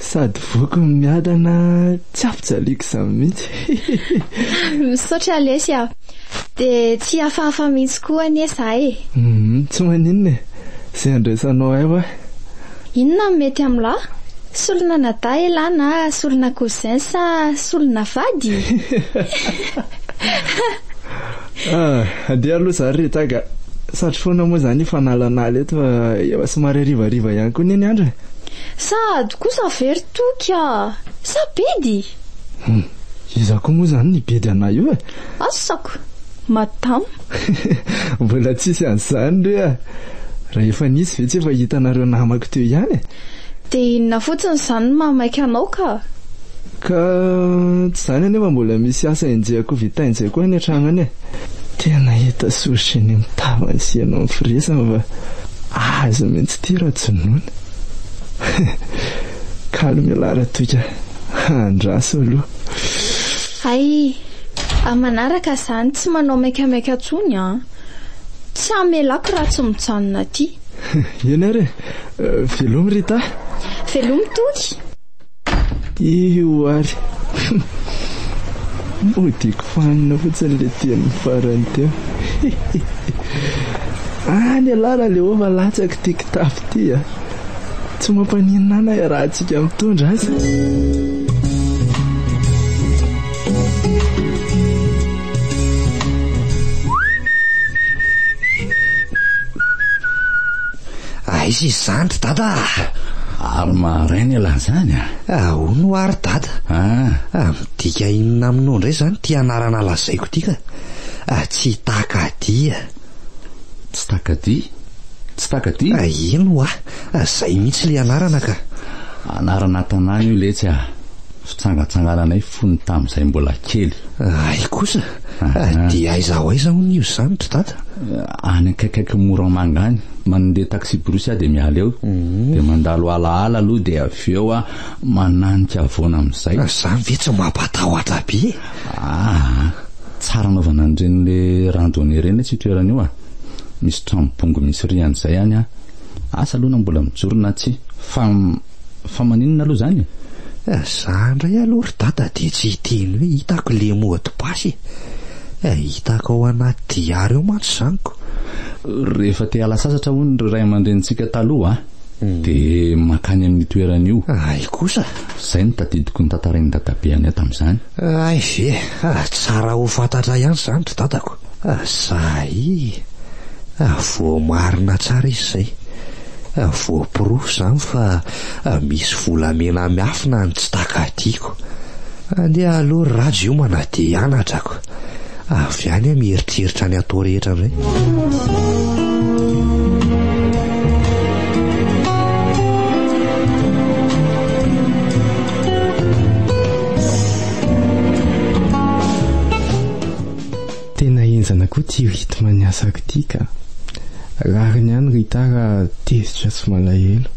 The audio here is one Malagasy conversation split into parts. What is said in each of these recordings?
Sady voky ny miadana, tsy ampijaliako izany mihitsy. Misaotra lesy a. Dia tsy hihafahafa mihitsy koa anie za e. Tsy maninona e. Izay andraisanao ahy hoa. Inona no mety amin'lah? Solon'anadahy elah na solona cousin sa solona vady? Andeha aloha za ry Retaga. Satry foana moa izany io fanalanala eto fa efa somary harivariva ihany koa anie ny andro e. Sahady kosa ve ry Toky a! Sa bedy? Hum, iza koa moa izany ny bedy anay io e? Asako! Madama! Mbola tsisy an'izany re a! Rahefa nisy ve tsy efa hitanareo namako teo ihany e? Dia inona fotsiny izany no maha maika anao ka? Ka tsy izany anefa mbola misy asa enjehako vitaina izay koa any an-trano any e! Tena hita sory sy eny amin'ny tavany sy eny amin'ny firesany fa. Azy mintsy ity rajonono. Kalo mialà ratoika a! Andraso aloha. Hay! Amin'ny manaraka izany tsy manao maikamaika intsony an! Tsy hamelako raha tsy mijanona aty. Eny ary e! Velomy Rita a! Velomy Toky! Io ary. Modiako fanina fotsiny ilay teny farany teo. Any ialahy Raleova latsaka ity kitapo ity a. Tsy mampaninona ahy na iarahantsika mitondra aza. Aiza izany ry dada ah? Ary maharay ny elah zany ah? Ahoana ho ary dada? Ah. Ah, midika inona aminao indray izany ity anarana lazaiko ity ka? Ah, tsy takadia. Tsy takadia? Tsy takadia? Ah, ino ho ah? Ah, izay mihitsy ilay anarana ka. Anarana tanàna io letsy ah. Fitsangatsangananay fony tamin'izay mbola kely. Raha kosa, dia aiza ho aiza hono io izany ry dada? Any akaikaikin'i Moramanga any. Mandeha taxi-brousse aho dia miala eo, mhm. dia mandalo alaala aloha dia avy eo aho mananika avoana amin'izay. Ah, izany ve tsy mampatahotra be? Ah, tsara anaovana an'ireny le randonnée ireny letsy io toerana io ah. Misy trano bongo misy rihana izay any ah. Asa aloha na mbola mijoro na tsia, fa Fa maninona aloha izany e? Eh, za indray aloha ry dada dia tsy hiteny hoe hitako le mot de passe e. Eh, hitako ao anaty diary ao mantsy izany ko. Rehefa te hiala sasatra hono ry ray aman-drenintsika taloha hmm. dia makany amin'ny toerana io. Ay kosa. Izay no tadidiko notantarain'i dadabe anay tamin'izany. Ay ve, ah, tsara ho fantatra ihany izany ry dadako. Asahi a voamarina tsara izy izay, a voaporofo izany fa a misy volamena miafina any tsy takatiako. Andeha aloha ry Rhajo hiomana dia hianatra ko. Avy any aho mieritreritra ny atao rehetra indray. Tena henjana koa ity rythme ny asako ity ka! Rariny ihany ry Tara tezitra sy malahelo.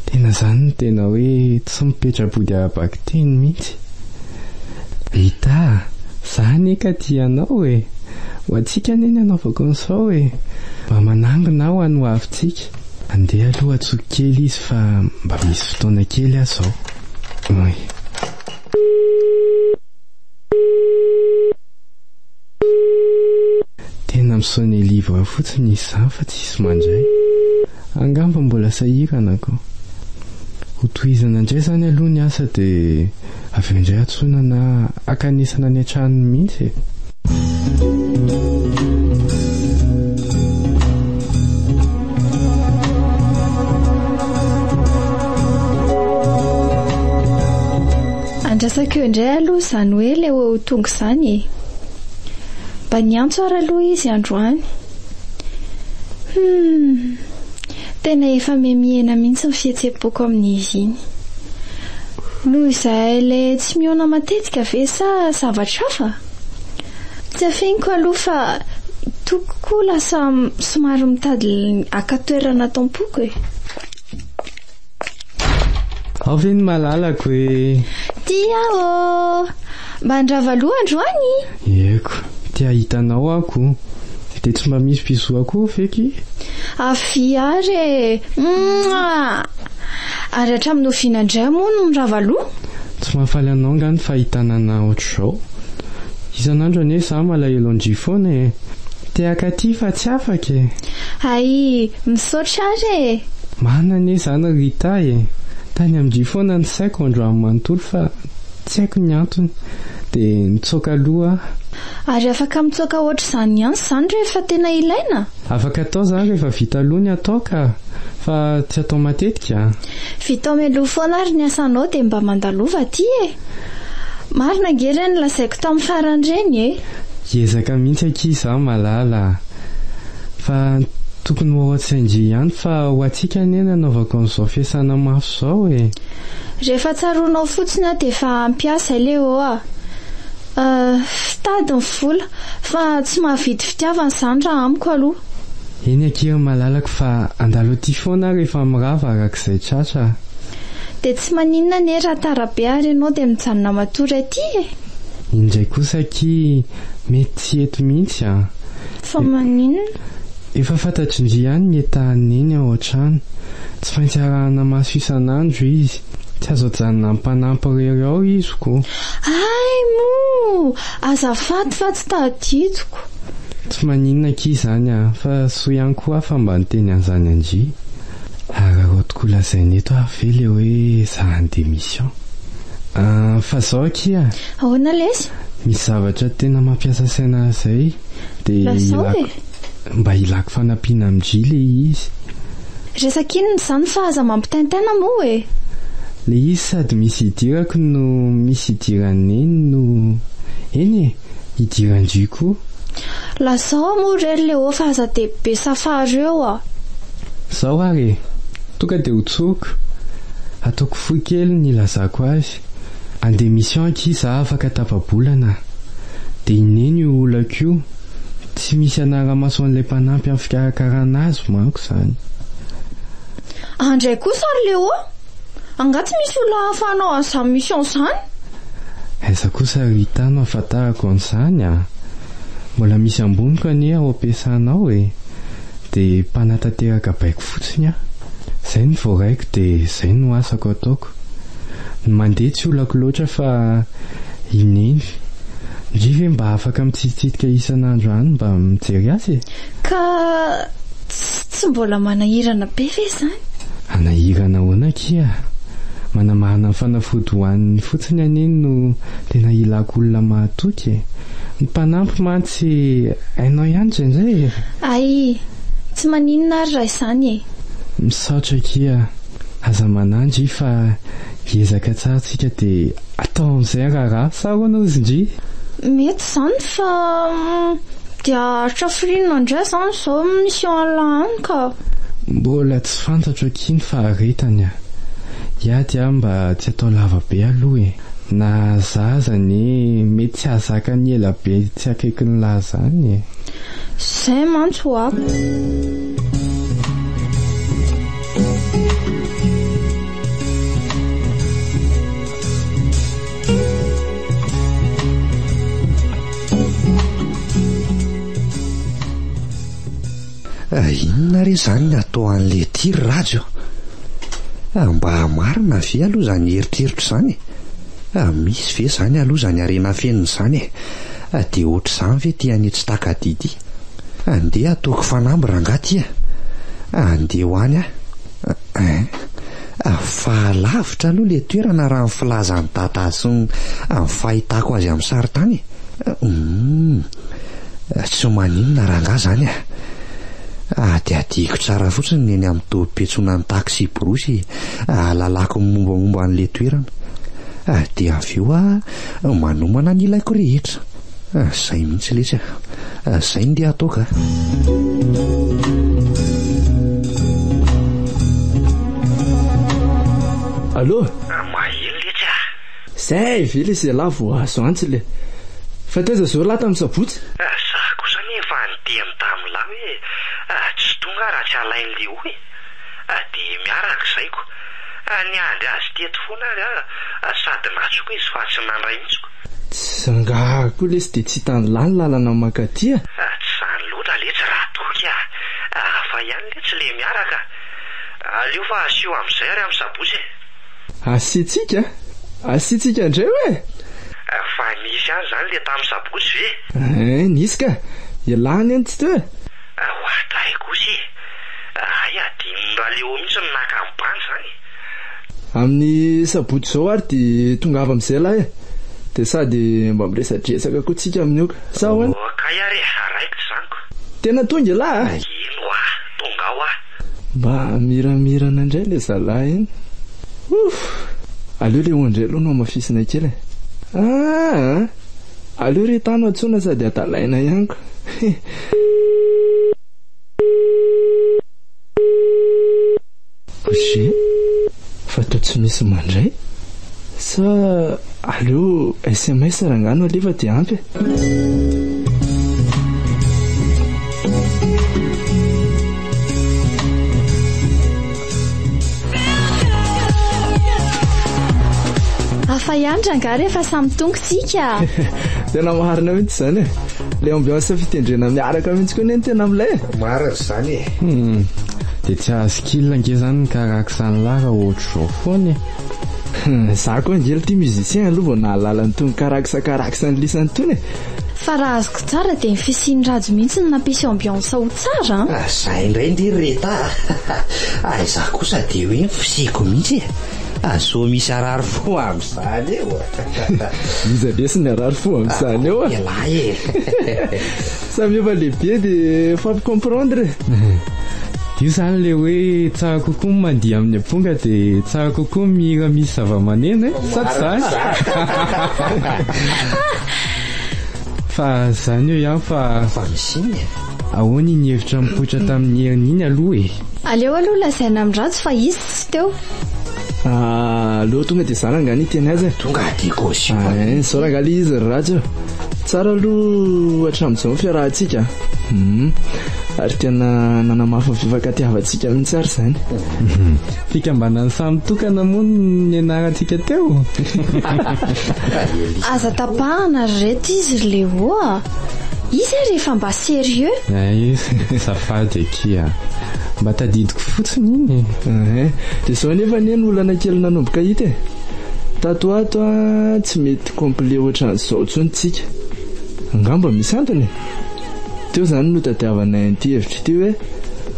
Tena izany no tena hoe tsy mipetra-body ara-bakiteny mihitsy. Rita a! Za anie ka tia anao e! Ho antsika anie ny anaovako ny sao e! Mba manangona aho any ho avintsika. Andeha aloha atsoiko kely izy fa mba misy fotoana kely aho izao. Oy. Tena misonia livre fotsiny izy izany fa tsisy mandray. Angamba mbola sahirana ko. Ho tohizana indray izany aloha ny asa dia avy eo indray antsoina na akanesana any an-tranony mihitsy e. Andrasako eo indray aloha izany hoe ilay ho tonga izany e! Mba niantso ary aloha izy androany. Humm! Tena efa miha-mihena mihitsy ny fihetsem-poko amin'izy iny. Noho izay ilay tsy mihaona matetika ve sa zavatra hafa? Tsy afeniko aloha fa tokoko koa lasa somary mitady haka toerana ato am-poko e! Ao ve ny malalako e? Tia ô! Mba handrava loha androany? Ieko, te hahita anao ako. Dia tsy mba misy bisou akoho ve ki? Avy ary e! Mouah! Ary hatramin'ny oviana indray moa no mirava loha? Tsy mahafaly anao angaha ny fahitana anà ohatr'izao? Isan'andro anie za malahelo an-dry foana e! Tehaka aty fa tsy afaka e! Aii! Misaotra ary e! Marina anie izany ry Rita e! Tany amin-dry foana ny saiko androany manontolo fa tsy haiko ny antony dia nitsoaka aloha aho. Ary afaka mitsoaka hoatr'izany ihany izany rehefa tena ilaina? Afaka atao izany rehefa vita aloha ny atao ka! Fa tsy atao matetika a! Vitao mialoha foana ary ny asanao dia mba mandalova aty e! Marina ange le nolazaiko tam farany reny e! Hiezaka mihitsy akia izaho malala a! Fa tokony ho ao an-tsain-dry ihany fa ho antsika anie no anaovako an'izao fiasana mafy izao e! Rehefa tsaroanao fotsiny aho dia efa hampiasa le oa! Fitady ny vola. Fa tsy mahavidy fitiavana izany raha amiko aloha. Eny akia ry malalako fa handalo aty foana aho rehefa mirava araka izay tratra a. Dia tsy maninona anie raha tara be ary ianao dia mijanona matory aty e. Iny indray kosa akia mety tsy eto mihitsy a. Fa maninona? Efa fantatry ndry ihany ny etahan'i Neny ao an-trano. Tsy maintsy arahana maso isan'andro izy. Tsy azo ajanona ampanampo rery ao iziko. Hay moa! Azafady fa tsy tadidiko. Tsy maninona akia izany a! Fa soa ihany koa aho fa mba niteny an'izany an-dry. Araraoty koa lazaina eto ary ve ilay hoe zahany démission. An! Fa izao akia! Ahoana lesy? Misy zavatra tena mampiasa saina ahy izay dia ilako. Lazao e! Mba ilako fanampiana am Jly le izy. Resaka inona izany fa aza mampitaintaina moa e! Le izy sady misy idirako no misy idiran'i Neny no eny e! Idiran-dry koa. Lazao a moa re ry Léo fa aza dia be safaro eo a! Zao ary e! Tonga dia hotsoriko, hataoko fohy kely ny hilazako azy. Andeha mission akia za afaka tapabolana a! Dia inena io olako io? Tsy misy anara-maso an'ilay mpanampy amin'ny fikarakarana azy manko izany. An ndray kosa ry Léo a! Angaha tsy misy olona ahafahanao any izany mission izany? Aiza kosa ry Rita no ahafantarako an'izany a! Mbola misy amboniko anie ao am-piasana ao e! Dia mpanatanteraka baiko fotsiny aho. Izay no voaraiko dia izay no asako ataoko. Tompo. Ny mandeha tsy olako loatra fa i Neny. Ndry ve mba afaka mitsitsitsika isan'andro any mba mijery azy e? Ka tsy mbola manahirana be ve izany? Hanahirana ahoana akia? Manamarina ny fanafody ho an'ny fotsiny aho Neny no tena ilako olona mahatoky e. Ny mpanampy mantsy hainao ihany indraindray e! Ay, tsy maninona ary raha izany e! Misaotra akia. Aza manandry fa hiezaka tsara tsika de atao amizay ny raharaha sa ahoana ozy ndry? Mety izany fa dia haharitra firiana indray izany izao mission Allah any ka. Mbola tsy fantatro akia ny faharetany a! Hiady aho mba tsy atao lava be aloha e! Na za aza anie mety tsy hahazaka ny ela be tsy akaikin'lah zany e! Zay mantsy hoa. Inona re izany ny atao an'ilay tir Rajy oh? Ah, mba marina ve aloha izany eritreritra izany e? Ah, misy ve izany aloha izany harena fenina izany e? Ah, dia ohatr'izany ve ity an'i tsy takadidy Andeha ataoko fanamby rangahy ty a! Andeha ho any aho eh! Fa lavitra aloha ilay toerana raha ny filazan'i Dadah sy ny fahitako azy amin'ny sarin-tany e! Humm! Tsy maninona rangahy izany a! Hadihadihiko tsara fotsiny ny eny amin'ny tobim-piantsonan'ny taksiborosy hahalalako ny mombamomba an'ilay toerana. Dia avy eo aho manomana ny ilaiko rehetra. Ah, zay mihitsy letsy ah. ah zay ndeha ataoko ah. Allô Mahely letsy ah. Zay ve le zela vao azo antsy le. Fa taiza zao lahy tamin'ny sabotsy? Ah, za kosa anie efa niteny tamin'ny lahy hoe ah, tsy tonga raha tsy alain'i Léo e. Ah, dia miaraka zaiko. Ah, niandry azy teto foana ary ah, sady natsoko izy fa tsy nandray mihitsy koa. Tsy zangahary koa lesy dia tsy hitany lahy ny lalana mankaty a! Tsy izany loatra letsy ra toky a! Hafa ihany letsy le miaraka! Aleo fa asio amin'izay ary amin'ny sabotsy e! Asiantsika? Asiantsika indray hoe e! Fa nisy ihany izany le tamin'ny sabotsy ve? Hein, nisy ka! Ialahy anie no tsy teo e! Oadray kosa e! Hay adinon'i Ralewo mihitsy ny naka an'i Banda izany e! Amin'ny sabotsy izao ary dia tongava amin'izay lahy e! Dia sady mba miresadresaka koa tsika amin'io ka! Sa ahoana? Ô kay ary e! Raikitra izany ko! Tena tonga ialahy a! Eny hoa! Tonga ao aho! Mba miramirana indray ilay zalahy iny! Ouff! Aleo ilay ondry aloha no hamafisina kely e! Aa! Aleo ry tano antsoina sady hadalaina ihany ko! Hee! Bougie fa toa tsy misy mandray? Sa aleo sms rangahy no alefa dia ampy e! Hafa ihany rangahy rehefa samy tongo tsika. Tena marina mihitsy izany e. Le ambiance fitendrena miaraka mihitsy koa ne ny tena milay. Marina izany e. Hmm. Dia tsy haha skill ange zany ny karaksan'ny lahy raha ohatr'izao foana e. Hmm, za koa ange ity musicien aloha vao nahalala an'itony karaksa karaksan'ny lisany itony e. Fa raha azoko tsara dia ny fisian'i Rhajo mihitsy no nampisy ambiance ho tsara an! Ah, zay indray ndry Reta a! Hay za kosa dia hoe ny fisiako mihitsy e! Azo misy harary fo amin'izany eo. Iza be sy ny harary fo amin'izany eo. Ialahy e. Samy efa lehibe dia fampicomprendre. Io zany le hoe tsara kokoa ny mandihy amin'ny amponga dia tsara kokoa ny mihira misy zavamaneno e. Sa tsy zany? Fa zany eo ihany fa. Fa misy iny e. Ahoana iny hevitra nipoitra tamin'ny herin'iny aloha e. Aleo aloha lazaina amin'ny ratsy fa iza. Tsy teo. Ah, aleo tonga dia zara nga ny teny azy. Tonga dia kozy. Ah, eh, zao ranga le izy radio. Tsara aloha hatramin'izao ny fiarahantsika. Hmm. Ary tena nanamafy ny fifankatiavantsika mihitsy ary izany. Hmm. Fikambanan'ny samy tokana moa ny anarantsika teo. Aza tapahana ry reto izy ry Léo ah. Izy ary rehefa mba sérieux. Ay, safady akia. Mba tadidiko fotsiny iny. Eh, dia izao nefa anie no olana kely nanomboka hita e. Tato ato an, tsy mety complet ohatran'izao intsony tsika. Angamba misy antony e. Teo izany no tadiavanay an'ity hevitra ity hoe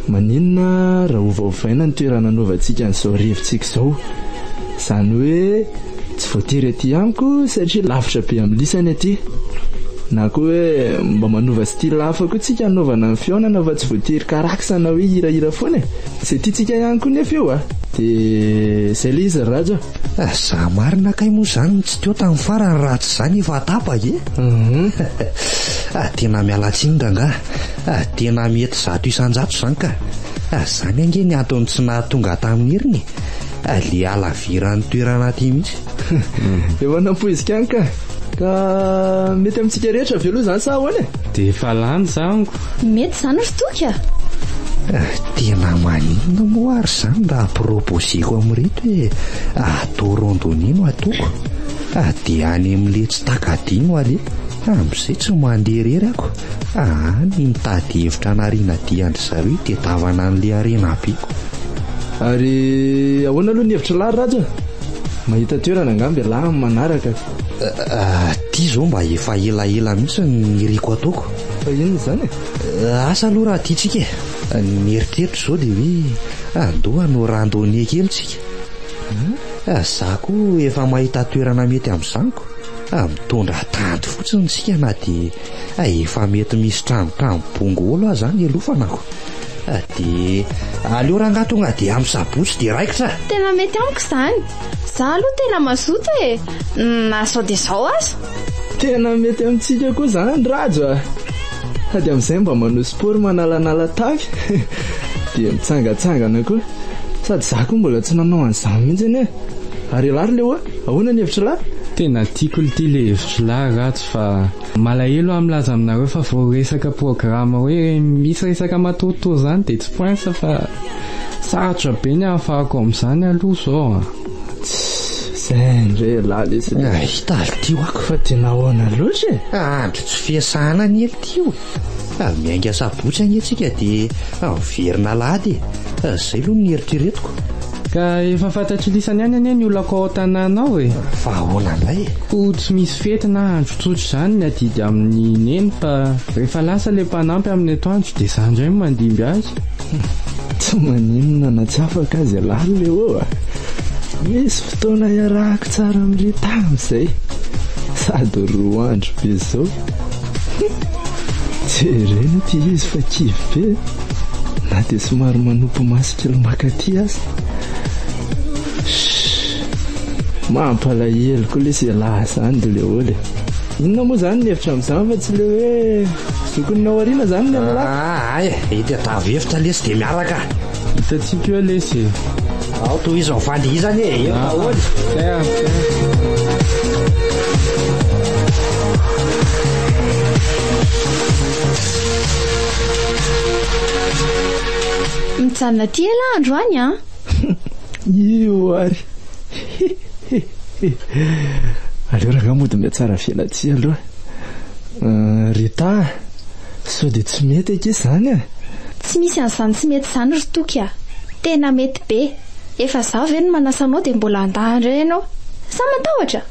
maninona raha ovaovaina ny toerana anaovantsika an'izao rivotsika izao. Izany hoe tsy voatery aty amiko satria lavitra be amin'ny lisany aty. Na koa hoe mba manova style hafa koa tsika hanaovana ny fihaonana fa tsy voatery karaksa na hoe hirahira foana e. Izay tiantsika ihany koa nefa io a. Dia izay ilay izy ry Rhajo a. Za marina kay moa izany no tsy teo tamin'ny farany raha tsy za nefa atapa e. Tena miala tsiny rangaha. Tena mety zato isan-jato izany ka. Izany ange ny antony tsy nahatonga ahy tamin'ny heriny e. Alea laviran'ny toerana aty mihitsy. Efa nampoizika any ka. Ka mety amintsika rehetra avy aloha izany sa ahoana e? Dia efa lany zango. Mety izany ry toka. Eh, tena maninona moa ary izany raha proposeko amin'ireto hoe ato rondoni no atoko. Ah, dia any amin'ilay tsy takadino aleha. Amin'izay tsy mandeha irery ako. Aa ny mitady hevitra hanariana dia an-dry zareo itedavana an'ilay harena be ko. Ary ahoana aloha ny hevitry lahy Rhaja? Mahita toerana angamba ialahy amin'ny manaraka ka. Aty izao mba efa elaela mihitsy no niriko ataoko. Fa inona izany e? Asa aloha raha aty tsika e! Ny mieritreritra izao dia hoe andeho hanao randonnée kely tsika. Za koa efa mahita toerana mety amin'izany ko. Mitondra tanty fotsiny tsika na dia Hay efa mety misy trano trano bongolo aza any aloha fanako. Ah, dia aleo rangaha tonga dia amin'ny sabotsy dia raikitra ah. Tena mety amiko izany. Za aloha tena mazoto e. Na sao dia sao aza. Tena mety amintsika koa izany Rhajo ah. Sady amin'izay mba manao sport manalanala tavy dia mitsangatsangana koa. Sady za koa mbola tsy nanao an'izany mihitsy anie. Ary ialahy ry Leo ah, ahoana ny hevitr'ilahy? Tena tiako ity le hevitr'ilahy Rhajo. Fa malahelo aho milaza aminareo fa vao resaka programa hoe misy resaka matoritory izany dia tsy poinsa fa sarotra be ny ahafahako amin'izany aloha izao a. Zay ndray elah lesy le. Hita alo ty wako fa dia nahoana loatra e. Andro tsy fiasana anie ty o. Miainga sabotsy anie tsika dia miverina alahady e. Zay aloha no nieritreretiko. Ka efa fantatry lisany ihany anie ny olako ao an-tanàna ao e. Fa ahoana indray e? Koa tsy misy fety na andro tsotra izany ny adidy amin'ny neny fa rehefa lasa ilay mpanampy amin'ny atoandro dia izaho indray no mandimby azy. Tsy maninona na tsy afaka aza ialahy Léo a! Nisy fotoana iarahako tsara amin'i Rita amin'izay. Sady roa andro be izao. Jerena ity izy fa kivy be. Na dia somary manopy maso kely makaty aza. Mampalahelo koa le se laha zany de le ole. Inona moa zany ny hevitra amin'izany fa tsy le hoe zokony naoriana zany ny an'la. Ah, ay, ety atavo hevitra lesy de miaraka. Hitantsika eo lesy. Ao to izy ao fandy izany e, eo daholo. Ah, Mijanona aty ela androany an! Io ary! Aleo rangah mody mihatsara vela aty aloha. Euh, Rita a! Sao dia tsy mety ange izany e! Tsy misy an'izany tsy mety izany ry Toky a! Tena mety be! Efa za ve no manasa anao dia mbola handà indray ianao? Sa matahotra?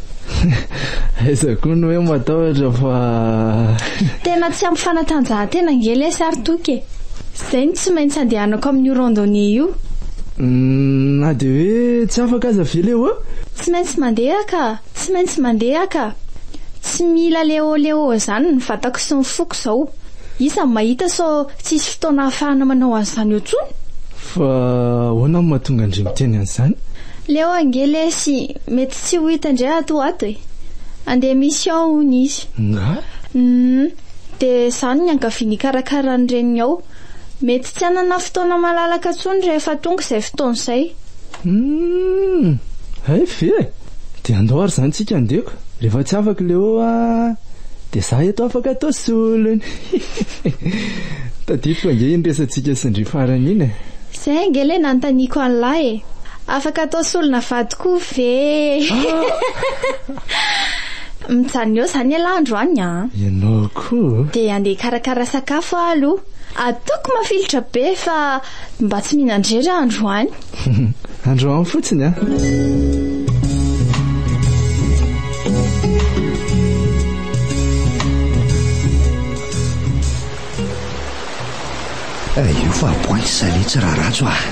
Aiza koa ny hoe matahotra fa. Tena tsy ampy fanatanjahantena ange lesy ary toky e! Izay no tsy maintsy andehanako amin'io randonnée io. Uhm, na dia hoe tsy afaka aza ve le hoe? Tsy maintsy mandeha ka! Tsy maintsy mandeha ka! Tsy mila leoleo izany ny vatako sy ny foko izao. Iza no mahita sao tsisy fotoana ahafahana manao an'izany eo intsony? Fa ahoana no mahatonga an-dry miteny an'izany? Leo ange lesy mety tsy ho hita indray ato ho ato e! Handeha mission hono izy. Ngah? Humm! Dia izany ny ankaviany hikarakara ny reniny ao. Mety tsy hanana fotoana malalaka intsony rehefa tonga izay fotoana izay. Humm! Hay ve? Dia andao ary izany tsika andeha ko. Rehefa tsy afaka i Leo a, dia za eto afaka atao solony. Tadidiko ange iny resatsika sy ndry farany iny e. Izay ange ilay nanontaniako an'lah e. Afaka atao solona vady koa ve e. Mijanona eo izany elah androany a. Ianao koa. Dia andeha hikarakara sakafo aho aloha. Ataoko mafilotra be fa mba tsy mihinan-drery aho androany. Androany fotsiny a. Eh, io fa boin salé tsy raratso ah.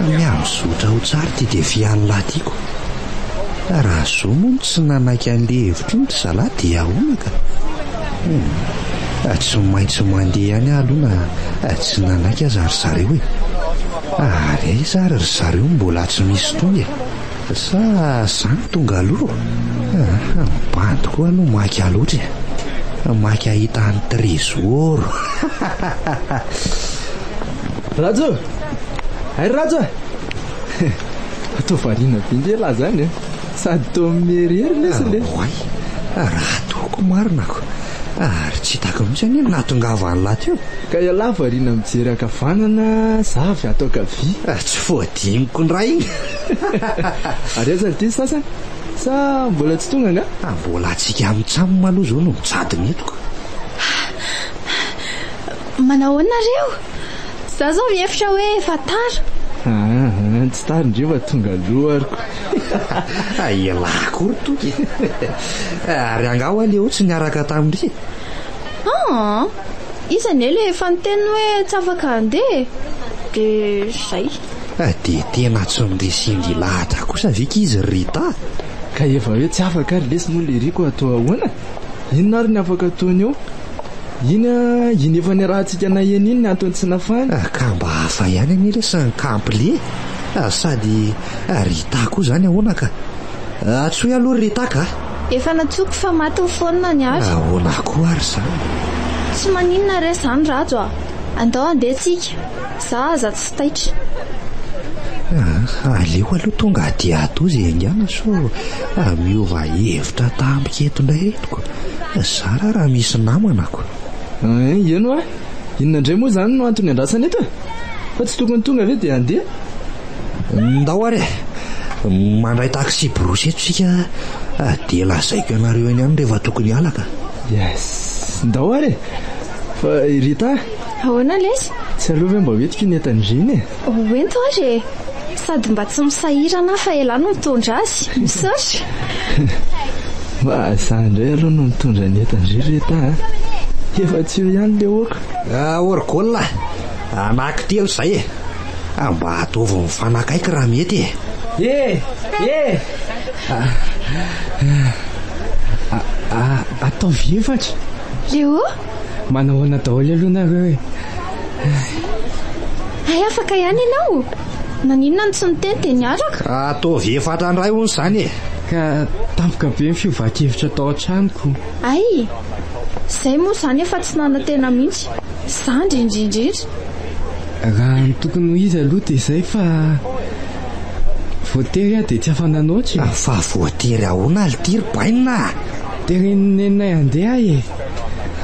Mihazo zotra ho tsara ty defian'ny lahy tiako. Raha zo moa tsy nanaiky an'le hevitro ny zalahy dia ahoana ka? Hmm. Tsy maintsy mandeha ihany aloha na eh, tsy nanaiky aza ry zareo e. Ary aiza ary ry zareo no mbola tsy misy toy e? Sa za no tonga aloha? Aha, bandy koa aloha maika loatra e! Maika hahita an'i Trésor! Rhajo! Hay ry Rhajo e! Toa variana be nge lahy zany e! Sady toa miherihery lesy le! Oay! Raha toa koa marina ko! Ary tsy hitako mihitsy anie ny nahatongava an'lah teo. Ka ialahy variana mijery ankavanana, za avy ato ankavia. Ah, tsy fohadiniko ny raha iny. Ary aiza ny diso sasany? Sa mbola tsy tonga angaha? Ah, mbola antsika micamm aloha izao no mijadona eto ka. Manao ahoana nareo? Za zao mihevitra hoe efa tara. Aa, tsy tara ndry fa tonga aloha ary ko. Elah akory Toky e! Ary angaha hoa Léo tsy niaraka tamindry e? Aa, iza anie le efa niteny hoe tsy afaka handeha e? De zay. De tena tsy noresindry ilahatra kosa ve k'izy ry Rita? Ka efa hoe tsy afaka ary lesy moa le Rico atao ahoana? Inona ary ny afaka ataony eo? Iny a, iny efa niarahantsika naheno iny ny antony tsy nafahany. Ah, ka mba hafa ihany anie re sa ny kamplie eh? Ah, sady ah, Rita koa izany ahoana ka? Ah, antsoy aloha ry Rita ka! Efa nantsoiko fa maty ny phone-ny ary. Ahoana koa ary izany? Tsy maninona re izany Rhajo ah! Andao handeha tsika. Za aza tsy taitra. Aleo aloha tonga aty atoa izay haingana sao miova hevitra tampoka eto indray retiko. Zara raha misy namanako. Ay, eny hoa. Inona indray moa izany no antony iandrasana eto e? Fa tsy tokony tonga ve dia handeha? Ndao ary e! Mandray taxi-brousse eto isika dia lazaiko anareo eny ihany rehefa tokony hiala ka. Yes, ndao ary e! Fa i Rita? Ahoana lesy? Tsy aleo ve mba hoentiko iny entan'i Gina e? Hoento ary e! Sady mba tsy misahirana aho fa ialahy no mitondra azy. Misaotra! Fa izaho indray aloha no mitondra ny entan-dry Rita a! Efa tsy eo ihany ilay ôka. Orgol a! Anankitelo izay e! Mba ataovy mifanakaiky raha mety e! E! E! Ataovy efatra! Léo! Manao ahoana daholo aloha nareo e. Hay afaka ihany ianao. Naninona no tsy niteny dia niaraka? Ataovy efatra indray hono izany e. Ka tampoka be ny fiovan-kevitra tao an-tranoko. Hay! Izay moa izany efa tsy nanantena mihitsy. Izaho indrindra indrindra. Raha ny tokony ho izy aloha dia izay fa voatery aho dia tsy afa-nanoatra e. Fa voatery ahoana ry Tiry bainina? Teren'ny neninay handeha aho e.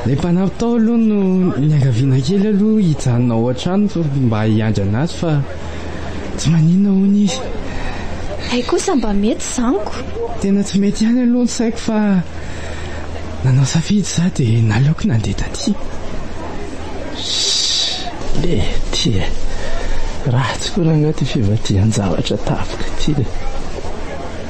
Ilay mpanampy tao aloha no niangaviana kely aloha hijanona ao an-trano mba hiandry an'azy fa tsy maninona hono izy. Hay kosa mba mety izany ko! Tena tsy mety ihany aloha ny saiko fa nanao safidy izaho dia naleoko nandeha taty. Shhh! Lety e! Ratsy koa rangaha ity fivadihan-javatra tapoka ity e!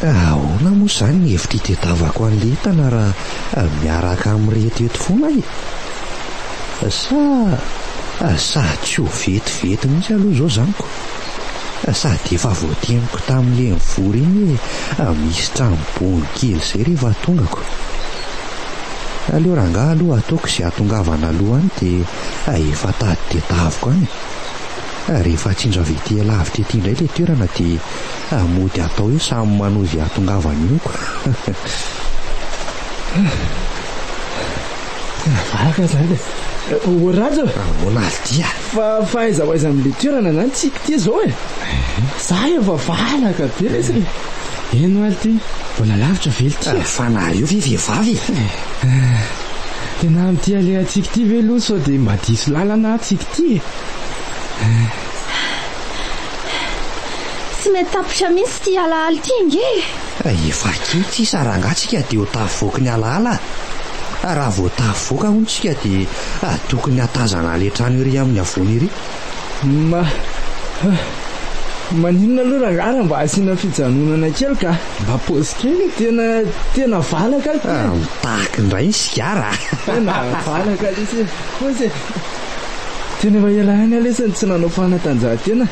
Ka ahoana moa izany ny hevitra itedavako an'ilay entana raha miaraka amin'ireto eto foana e? Sa sa tsy ho vetivety mihitsy aloha izao izany ko? Sady efa voatemiko tamin'ilay nivory iny hoe misy trano bongo kely izay rehefa tongako. Aleo rangaha aloha ataoko izay hatongavana aloha any dia efa tady tedaviko any e! Rehefa atsindro avy ety lavitra ety indray ilay toerana dia mody atao eo samy manohy izay hahatongavany eo. Vavaka izany e. O Rhajo e. Ahoana ary dia? Fa fa aiza ho aiza amin'ilay toerana izany tsy hiko ity izao e. Za efa vavaka be lesy e. Eno ary ity. Mbola lavitra ve ity? Fa nareo ve vehivavy e? Tena amin'ity alehantsika ity ve aloha sao dia mba diso lalana aho tsy hiko ity e. Tsy mety tapitra mihitsy ity alaala ity ange e! Rehefa kely sisa rangahy tsika dia ho tafavoaky ny alaala a! Raha vao tafavoaka hono tsika dia tokony hatazana ilay trano ery amin'ny havoana ery. Ma, ha, maninona aloha rangahy raha mba asiana fijanonana kely ka! Mba pause kely e! Tena, tena valaka ity e! Mitaky indray ny sigara a! Tena valaka lesy e! Pause e! Tena efa ela ihany aho lesy no tsy nanao fanatanjahantena.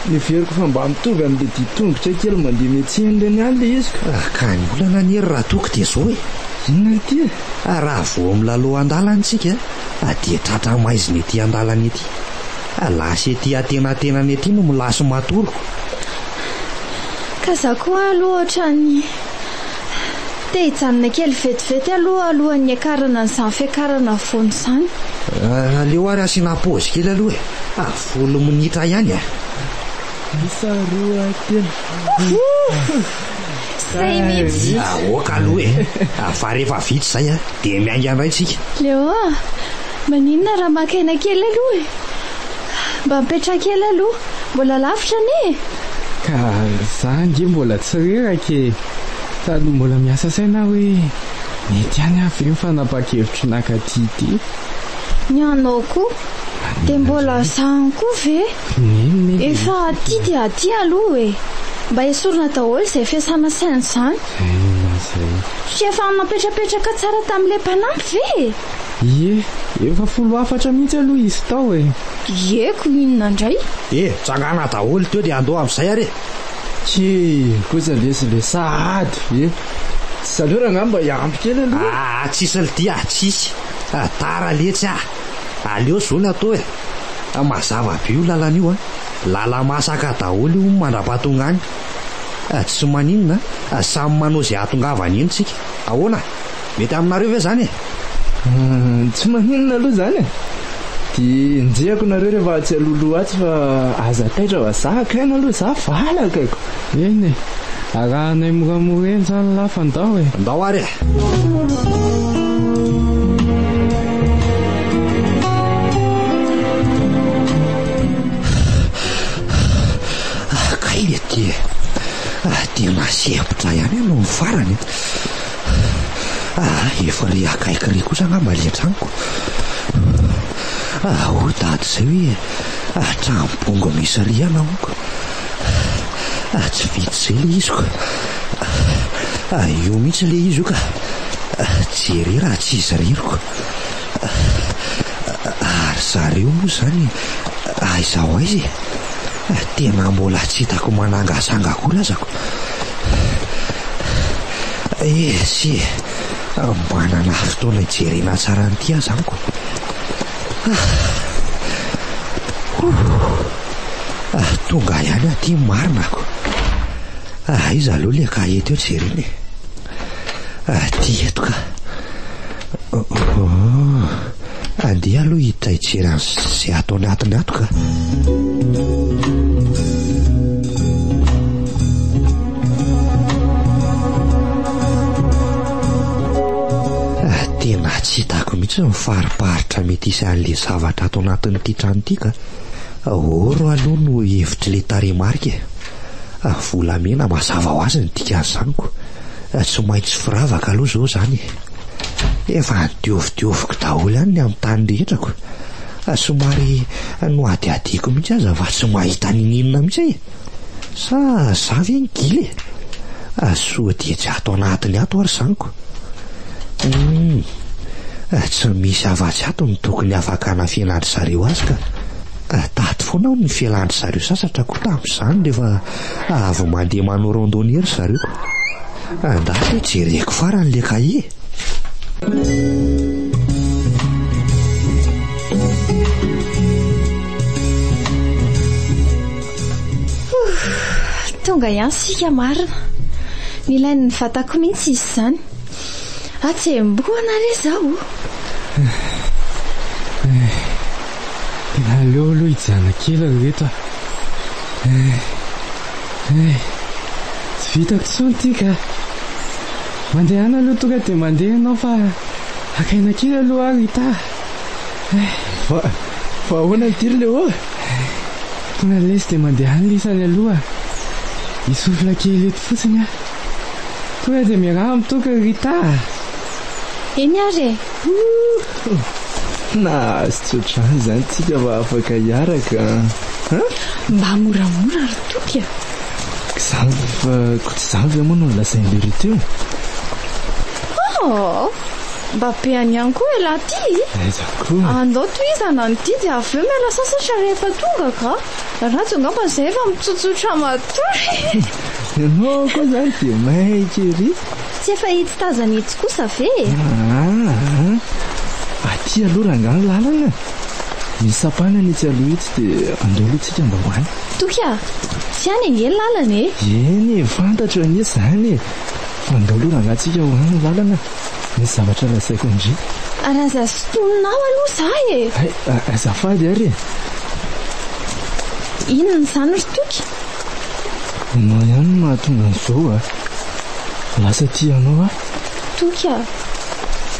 Noheveriko fa mba mitovy amin'ilay dia tongotra kely mandeha miantsehany ireny ihany ilay iziko. Raha ka ny olana anie ry Ratoko dia izao e! Inona ity e? Raha vao milalao an-dalana isika dia tratra maizina ety an-dalana ety. Lasa ety antenatenany ety no milasy matory. Ka izaho koa aloha ohatran'ny. Te hijanona kely vetivety aloha alohan'ny hiakarana an'izany fiakarana afovoany izany. Aleo ary asiana pause kely aloha e! Fa folo minitra ihany e! Isa roa telo. Izay mihitsy! Aoka aloha e! Fa rehefa vita izay dia miainga indray isika. Leo a! Maninona raha maka aina kely aloha e! Mba mipetraha kely aloha. Mbola lavitra anie e! Ka za ange mbola tsy reraka e! Sady mbola miasa saina aho hoe mety ihany aho ve ny fanapahan-kevitro naka aty ity? Ny anao koa? Dia mbola za ihany koa ve? Neny, Efa aty dia aty aloha e! Mba esorina daholo izay fiasana saina izany. Inona izay? Tsy efa napetrapetraka tsara tamin'ilay mpanampy ve e? Ie, efa folo hafatra mihitsy aloha izy tao e! Ie, ko inona indray? E, tsangana daholo teo dia andoha amin'izay ary e! He, kosa lesy ilay sahady e! Tsy zaleo rangahy mba hiampy kely aloha e! Aa, tsisy lty ah, tsisy! Tara letsy ah! Aleo zo ny atao e! Mazava be io lalana io an! Lala-masaka daholo io mandra-pahatonga any! Tsy maninona, samy manao izay hahatongavany eny tsika! Ahoana? Mety aminareo ve izany e? Tsy maninona aloha izany e. Dia enjehako nareo rehefa atsy alohaloha atsy fa aza taitra fa za haka aina aloha za valaka ko. Eny e, arahanay moramora eny izany lahy fa ndao e. Ndao ary e. Kay ity e. Dia lasa hevitra ihany ianao ny farany. Aa efa re akaiky re kosa angamba ilay tranoko. Aa hoy dada izay hoe trano bongo miisa rihana amiko. Aa tsy vitsy izay ilay izy ko. Aa io mihitsy ilay izy io ka. Jereo raha tsy izy irery ko. Aa ary zareo moa izany aiza ho aiza e. Tena mbola tsy hitako manangazanga akory azako. Esy e, manana fotoana hijerena tsara an'ity aza amiko. Ah, tonga ihany aty ny marina ko. Aiza aloha ilay kahie teo jerena e. Aty eto ka. Ohh. Andeha aloha hiditra hijery an'izay ato anatiny ato ka. Tena tsy hitako mihitsy ny fariparitra mety hisy an'ilay zavatra ato anatin'ity trano ity ka. Aoro aloha no hevitr'ilay tarehimarika e. ary volamena mazava ho azy ny dikan'izany ko tsy maintsy firavaka aloha izao izany e! Efa nodiovodioviko daholo ihany ny amin'ny tany rehetra ko, somary nohadihadiako mihitsy aza fa tsy mahita n'inon'inona mihitsy e! Sa za ve no gila e? Soa dia tsy ato anatiny ato ary izany ko! Humm! Tsy misy afa-tsy ato no tokony afaka hanafenandry zareo azy ka! Taty foana aho ny fialan-dry zareo sasatra koa tamin'izany rehefa avy mandeha manao randonnée ry zareo. Andahy ve jereko farany ilay cahier? Tonga ihany isika marina. Nilain'ny vatako mihitsy izy izany. Atsembohana re zaho o! Tena aleo aloha hijanona kely ry reto a! Tsy vitako intsony ity ka! Mandehana aloha tonga dia mandeha ianao fa haka aina kely aloha aho Rita a! Fa ahoana ity ry Léo a! Tonga lesy dia mandehana lisany aloha hisofla kely eto fotsiny aho. Tonga dia miaraha amin'ny toaka ry Rita a! Eny ary e! Ouh! Nahazo tsy ohatr'izany izany isika fa afaka hiaraka an! Mba moramora ry Toky a! K'izany fa koa tsy izany ve moa no nolazain'ilay Rita io? Oh! Mba be any ihany koa ialahy ity! Aiza koa! Andao tohizana ny didy avy eo miala sasatra rehefa tonga ka! Rhajo angamba izay efa mitsotsotra matoa e! Ianao koa izany dia maika ery. Tsy efa etsy tazana etsy kosa ve e? Ah, aty aloha rangaha ny lalana. Misy sampanana etsy aloha etsy dia andao aloha tsika mba ho any. Toky ah, tsy any ange ny lalana e. Eny e, fantatro anie izany e. Fa andao aloha rangaha tsika ho any ny lalana. Misy zavatra lazaiko an-dry. Ary aza sintonina ao aloha za e. Hay, azafady ary e. Inona izany ry Toky? Ianao ihany no mahatonga an'izao a! Lasa tia anao aho. Toky a!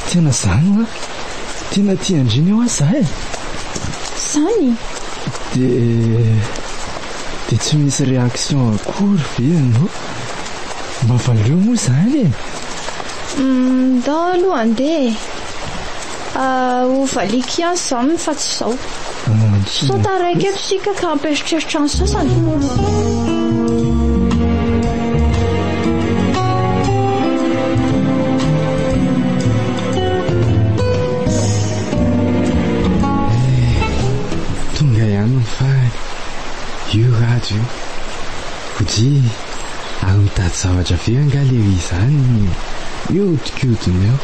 Tena izany hoa! Tena tia an-dry hoa izaho e! Izany? Dia dia tsy misy réaction akory ve ianao? Mba valio moa izany e! Ndao aloha handeha e! ho valiako ihany izany fa tsy izao. Sao taraiky eto isika ka hampieritreritra ny sasany. io Kojy ary mitady zavatra very angaha lery izany io hodikodinao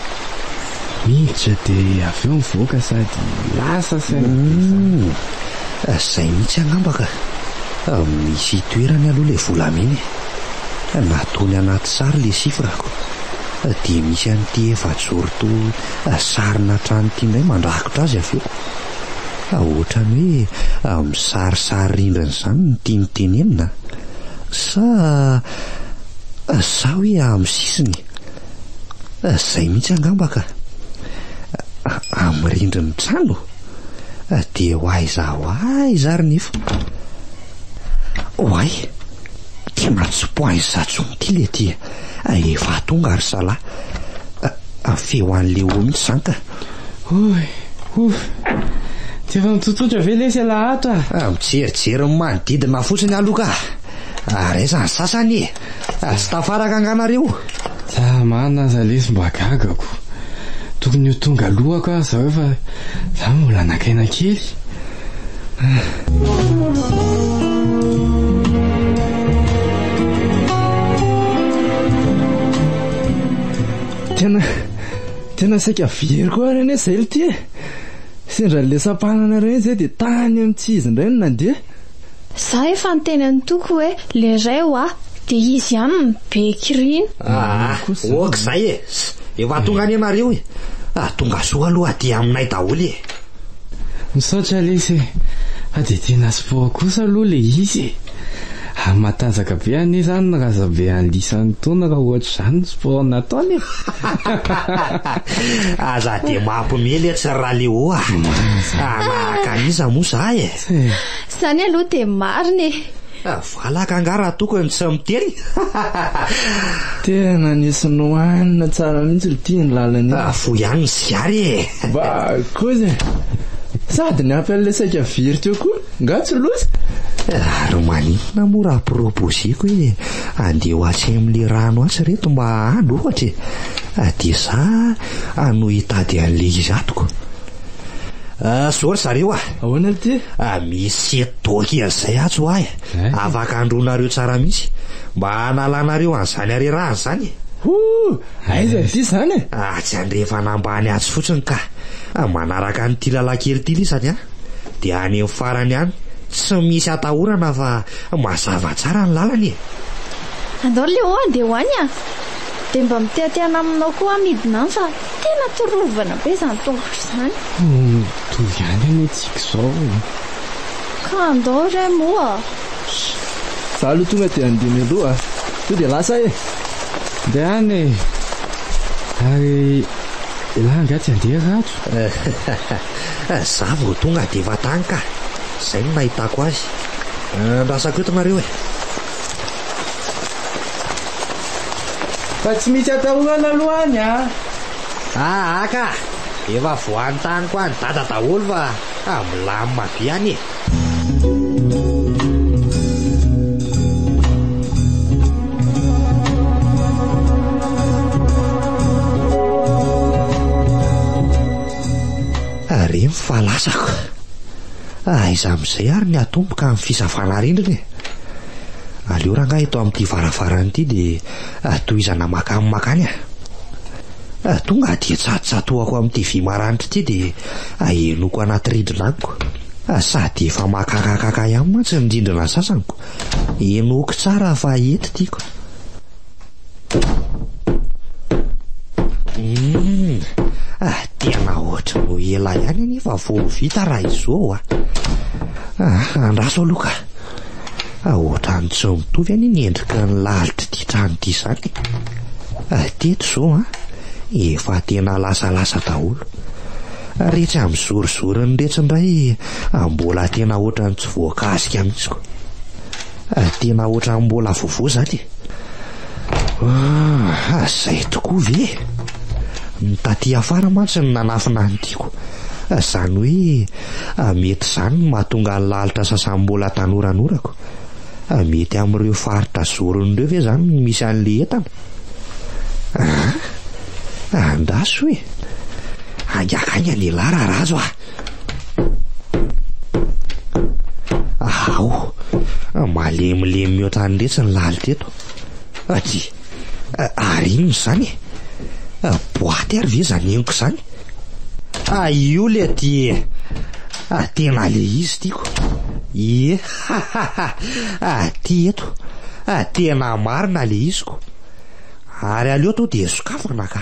Miditra dia avy eo mivoaka sady lasa saina be izany. Izay mihitsy angamba ka. Misy itoerany aloha ilay volamena e. Nataony anaty sary ilay chiffre-ko. Dia misy an'ity efajoro toa sarina trano ity indray mandrakotra azy avy eo. Ohatran'ny hoe misarisary rindrina izany no tiany tenenina. Sa sa hoe amin'ny sisiny. Izay mihitsy angamba ka! Amin'ny rindrin'ny trano? Dia ho aiza ho aiza ary nefa? Oay! Ity mantsy tsy point zatsony ity le tia eh! Efa tonga ry zalahy! Feo an'i Léo mihitsy izany ka! Oy! Ouf! Tsy efa mitsotsotra ve lesy alahatra? Mijerijery ny manodidina fotsiny aloha ka! Ary aiza ny sasany e? Tsy tafaraka angaha nareo? Zah marina aza lesy mba gaga ko. Tokony ho tonga aloha ka zah eo fa zah mbola nakaina kely. Tena tena saika very koa ary anie zay lty e. Sendra lesam-pananareo iny zay dia tany amin'ity izy indray no nandeha. Za efa niteny an'i Toky hoe leray hoa dia izy ihany no be kirina. Ah ok zay e! Efa tonga anie nareo e! Ah tongasoa aloha aty aminay daholo e! Misaotra lesy e! Fa dia tena sport kosa aloha ilay izy e! Any matanjaka be anie izany ny razabe any lisany toana raha ohatra izany no sport nataony e! Aza dia mampiomehy letsy ry Raleo a! Manahaka an'iza moa za e! Izany aloha dia marina e. Ah, valaka angaha raha tokony ny tsy miteny? Tena nisy nohanina tsara mihitsy ry tia ny lalany. Ah, fo ihany ny sigary e. Ba, kozy. Sady ny ampy an'ilay saika very teo koa, nga tsy loza? Ah, ry maninona moa raha proposeko hoe andeha ho atsy amin'ilay rano atsy reto mba hahalo ohatra e. Ah, dia za ah, no hitady an'ilay izy atoko. Ah, sorry zareo ah. Ahoana ry ty? Misy doc an'izay atsy ho ahy afaka handroanareo tsara mihitsy mba hanalanareo an'izany harerahana izany e! Hoo! Aiza ry ty izany e? Atsy andrefana ambany atsy fotsiny ka! Manaraka an'ity lalankely ity lisany a! Dia any amin'ny farany any, tsy misy atahorana fa mazava tsara ny lalana e! Andao ry Léo handeha ho any a! Dia mba mitehatehana aminao koa aho midina any fa tena torovana be izany tongotra izany. Mitovy ihany anie antsika izao e! Ka andao re moa! Za aloha tonga dia handeha mialoha tonga dia lasa e! Ndeha any e! Ary elah angaha tsy handeha Rhajo? Za vao tonga dia efa tany ka! Izay no nahitako azy. Andrasako eto nareo e! Fa tsy misy atahorana aloha any an! Aa ka! Efa voantaniko any dada daholo fa ah milamina be any e! Ary iny fa lasako. Aiza amin'izay ary ny atomboka amin'ny fisavana rindrina e! Aleo rangahy eto amin'ity varavarana ity dia Ary tohizana makany makany a! Ary tonga aty an-tsatotsatoako amin'ity vy maranitra ity dia ahenoko anaty rindrina amiko. Sady efa makakakaka ihany mantsy ny rindrina sasaniko. Henoiko tsara fa eto tiako. Hum! Tena ohatran'ny ho ela ihany anefa vao ho vita raha izao a! Andraso aloha ka! Ohatran'ny tsy mitovy anie ny endriky ny lalitr'ity trano ity izany e. Ary teto izao an, efa tena lasalasa daholo. Ary etsy amin'ny zorizorin'ny retsy indray mbola tena ohatran'ny tsy voakasika mihitsy koa. Tena ohatran'ny mbola vaovao izany e. Ah, zay tokoa ve? Ny taty afara mantsy no nanafina ny tiako. Izany hoe ah, mety izany no mahatonga ny lalitra sasam-bola tanoranorako. Ah, mety amin'ireo faritra zorony ireo ve izany no misy an'ilay entana? Ah, andraso e! Haingakaingana ialahy raha razo ah! Ahaoo, ah, malemilemy mihoatra an'i Retsy ny lalitra eto. Aty, ah, ah, ary inona izany e? Ah, boaty ary ve izany henoko izany? Ah, io le aty e. Ah, tena le izy tiako. Ie, ha ha ha, ah, ty eto. Ah, tena marina le iziko. Ary aleo to dia sokafana ka.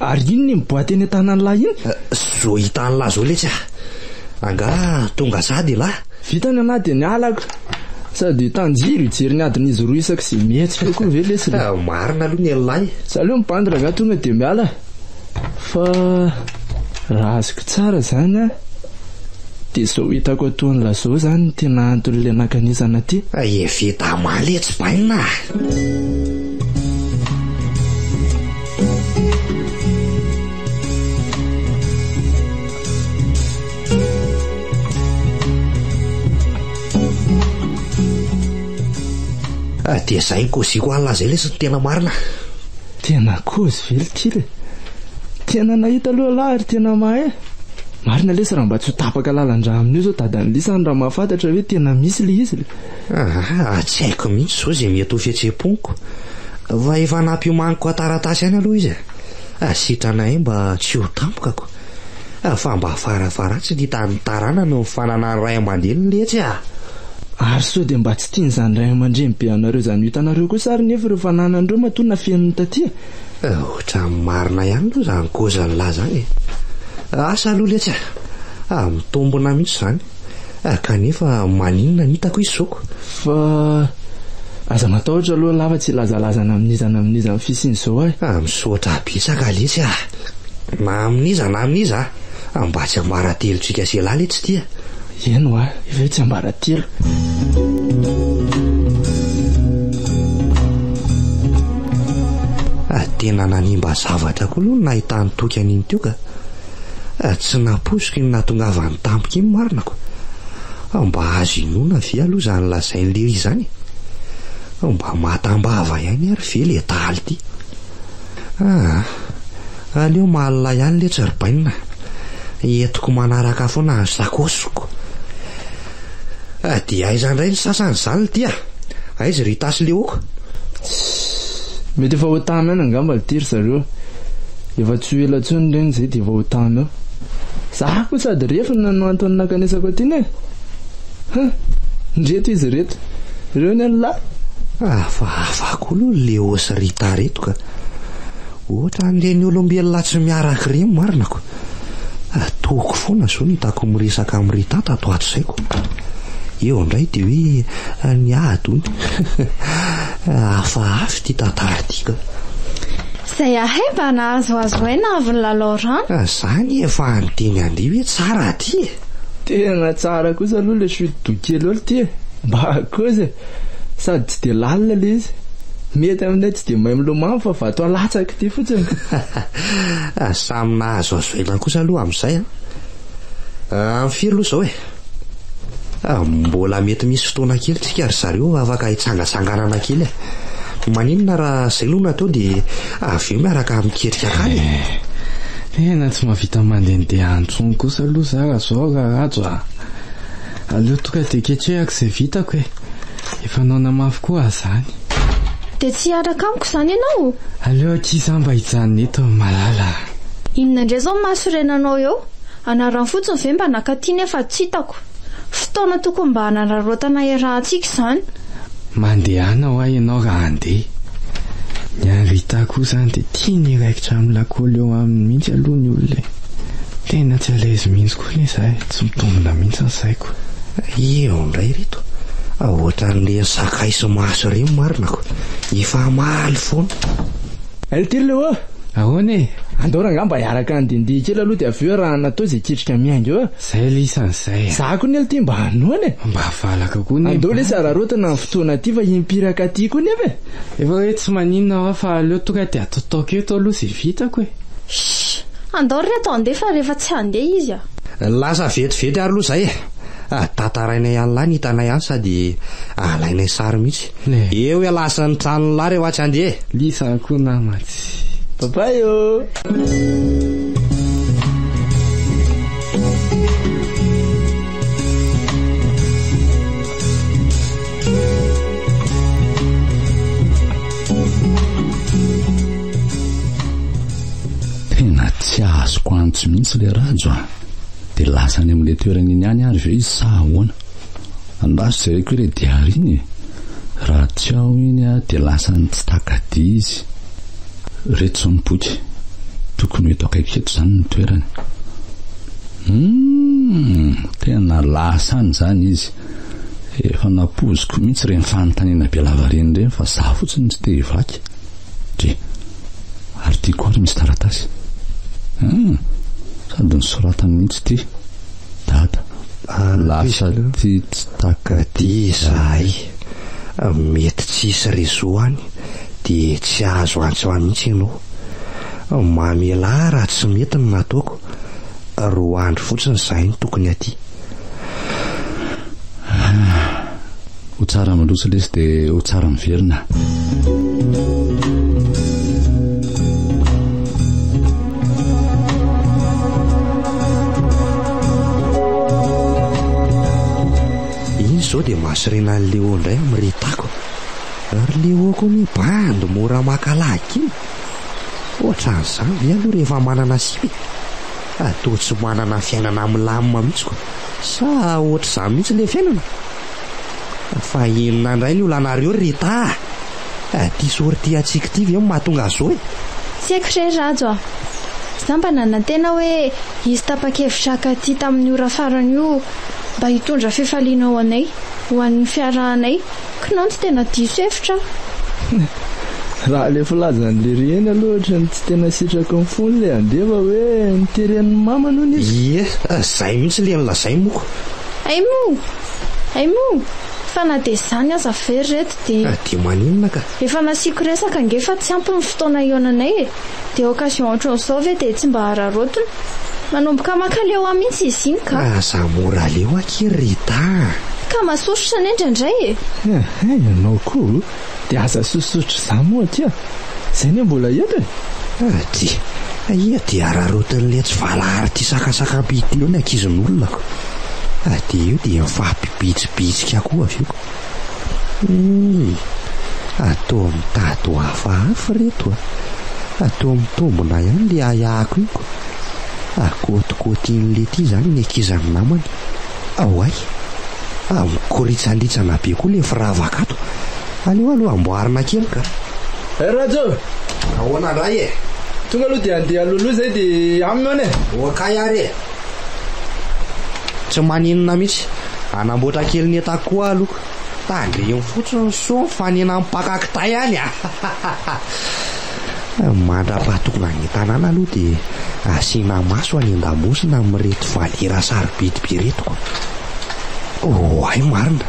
Ary inona iny boaty eny an-tanan'lah iny? Zo hitan'lah zo letsy ah. Angaha tonga sady ilah? Vita ny anaty dia ny halako. Sady hitan-jiro hijery ny adin'izy roa isaky izay mihetsika koa ve letsy le? Marina aloha ny an'lah e. Za aloha mibandy rangaha tonga dia miala fa raha azoko tsara zany an dia zao hitako atoan'lah zao zany ny tena anton'le nankanesana aty. Evita male tsy bainina ah. Ah, dia izay ny kozy koala an'izay lesy no tena marina. Tena kozy ve ity le? Tena nahita aloha lahy ary tena mahay. Marina lesy raha mba tsy ho tapaka lalan-drà amin'io izao dadan'i Lisa any raha mahafantatra hoe tena misy le izy le. Aa, tsy haiko mihitsy izao izay mety ho fihetseham-poniko. Fa efa nampiomaniko an-taratasy ihany aloha izy e. Sitranay mba tsy ho tampokako. Fa mba farafaharatsiny hitan'ny taranany ny fananan'ny ray aman-dreniny letsy a! Ary sao dia mba tsy tian'izany ray aman-dreny be anareo izany ho hitanareo kosa ary nefa ireo fananan'ireo matoa nafeniny taty a! Ohatran'ny marina ihany aloha izany koza nilazany e! Asa aloha letsy a! Mitombina mihitsy izany. Ah, kanefa maninona ny hitako izy zoako? Fa aza matahotra aloha lava tsy hilazalaza na amin'iza na amin'iza amin'ny fisian'izao ahy. Ah, misaotra betsaka lesy ah. Na amin'iza na amin'iza ah. Mba tsy ambaratelo tsika sy elah le tsy tia. Eny hoa, efa hoe tsy ambaratelo. Tena nanimba zavatra koa aloha ny nahitany Toky an'iny Tioka. Tsy nampoiziko iny nahatongavany tampoka iny marina ko. Mba azo inoana ve aloha izany lazain'i Léry izany e? Mba matam-bava ihany ary ve le dahalo ty? Aa! Aleo malina ihany letsy ry Bainina, entiko manaraka foana ny sakaosiko. Dia aiza indray ny sasany izany ity a! Aiza i Rita sy Leo ko? Tss! Mety efa ho tany any angamba ity ry zareo. Efa tsy ho ela intsony ireny izay dia efa ho tany ao. Za koa sady refona no antony nankanesako aty ne! Huh! Ndreto izy ireto. Ireo ny an'lah! Hafahafa koa aloha ry Leo sy Rita ireto ka! Ohatran'ireny olombelona tsy miara-kirimo marina ko! Tohiko foana izao ny hitako miresaka amin'i Rita tato ato izay ko. Eo indray dia hoe ny ady hono. Hafahafa ity tantara ity ka. Izay ahay mba nahazoazo aina avy ny lalao rano. Za anie efa any teny andeha hoe tsara aty e. Tena tsara kosa aloha le chute doux kely eo ity e. Mba kozy e. Sady tsy dia lalina le izy. Mety aminay tsy dia mahay milomano fa vato alatsaka ity fotsiny. Ah, samy nahazoazo aina kosa aloha amin'izay an! Amin'ny firy aloha izao e? Ah, mbola mety misy fotoana kely tsika ry zareo afaka hitsangatsanganana kely e! Maninona raha izay no natao dia avy eo miaraka miketrika hankany e? Eh, tena tsy mahavita mandehandeha intsony kosa aloha za raha izao Raràjo ah! Aleo tonga dia ketrehako izay vitako e! Efa noana mafy koa aho izany. Dia tsy hiaraka amiko izany ianao? Aleo ankizy aho mba hijanona eto ry malala a! Inona indray izao masorenanao eo? Anarany fotsiny ve mba naka aty nefa tsy hitako? Fotoana tokony mba hanararaotana iarahantsika izany. Mandehana hoa ianao raha handeha. Ny an'i Rita koa izany dia tiany hiraikitra amin'ny lakôly eo aminy mihitsy aloha ny olona e! Tena tsy à l'aise mihitsy koa. Tokony izay tsy mitombina mihitsy ny saiko. Eo indray ry to a! Ohatran'ireny sakay sy maso ireny marina ko! Efa hamaly foana. Ry ty Leo a! Ahoana e? Andao rangamba hiaraka handihindihy kely aloha dia avy eo arahana tao izay ketrika miainga eo a! Izay le isan'izay a! Za ko ny ty mba hanoana e! Mba valaka ko ny mpanjaka! Andao lesy araraotina ny fotoana ty fa himpiraka aty ko nefa e! Efa hoe tsy maninona aho fa aleo tonga dia atotaoko eto aloha izay vitako e! Shh! Andao ry reto handeha fa rehefa tsy handeha izy a! Lasa vetivety ary aloha izay e! Daty tarainay ihany lahy ny hitanay azy sady alainay sary mihitsy. Eo ialahy sy ny tranony lahy rehefa tsy handeha e! Lisany koa namantsy. Bye bye ô! Tena tsy azoko antso mihitsy le Rhajo a! Dia lasa any amin'ilay toerana iny ihany ary ve izy sa ahoana? Andraso jereko ilay diary iny e! Raha tsy ao iny aho dia lasa ny tsy taka-dia izy. Ireto izao ny boky. Tokony ho eto akaiky eto izany ny toerany. Humm! Tena lasa any izany izy. Efa nampoiziko mihitsy ireny fanontaniana be lavareny ireny fa za fotsiny tsy te hivaky. Dry. Ary ty koa ary misy taratasy. Hum! Sady nosoratany mihitsy ity. Dada. Lasa ty tsy taka ty izahay. Mety tsisy réseau any dia tsy azo antso ahy mihitsy ianao. Mamelà ahy raha tsy mety ny nataoko. Roa andro fotsiny izahay no tokony aty. ho tsara mandroso lesy dia ho tsara miverina iny izao dia mahasorena an'i leo indray amin'ny retako ary leo koa ny bandy mora makalagy iny ohatran'izany ve aloha rehefa manana sipa e? ka toa tsy manana fiainana milamina mihitsy koa. Sa ohatr'izany mihitsy ilay fiainana? Fa inona indray ny olanareo ry Rita a! Ity sortie antsika ity ve no mahatonga an'izao e? Tsy haiko re Rhajo a! Za mba nanantena hoe hisy tapa-kevitra haka aty tamin'ny ora farany io mba hitondra fifaliana ho anay, ho an'ny fiarahanay Kinanjo tena diso hevitra aho. Raha ilay filazan'i Lerieny aloha ohatra ny tsy tena sitraky ny fony ilay Andeva hoe noteren'ny mamany hono izy. Ie, izay mihitsy ilay nolazainy moa. Hay moa! Hay moa! Fa na dia izany aza ve ry reto dia. Dia maninona ka? Efa nasiako resaka ange fa tsy ampy ny fotoana hihaonanay e! Dia occasion ohatran'izao ve dia tsy mba hararaotina? Manomboka maka leo ahy mihitsy izy iny ka! Aza mora leo akia Rita a! Ka masosotra anie indraindray e! Ehe, ianao koa dia aza sosotra izaho moa akia! Izay anie mbola eto e! Ady, aia dia hararaotin'ilay tsy valahary tia sakasakam-piditra eo ny ankizin'olona ko! Ady eo dia mifampibitsibitsika koa avy eo. Iiii! Atoa mitady ho hafahafa reto a! Atoa mitombona ihany le ahiahiko iny ko! Akotikotin'i Letty zany ny ankizy an'i namany! Aoay! Fa mikoritsandritsana be koa le firavaka ato! Aleo aloha amboarina kely ka! Ry Rhajo! Ahoana ndray e! Tonga aloha dia handeha aloloha izay dia aminy hono e! Ho akay ary e! Tsy maninona mihitsy. Hanamboatra kely ny entako koa aho aloha. Tandremo fotsiny ny soa mifanena mpaka kitay any a! Mandra-pahatokona any an-tanàna aloha dia asiana maso any an-damosina amin'ireto valiera sarobidy be ireto koa. Oay marina,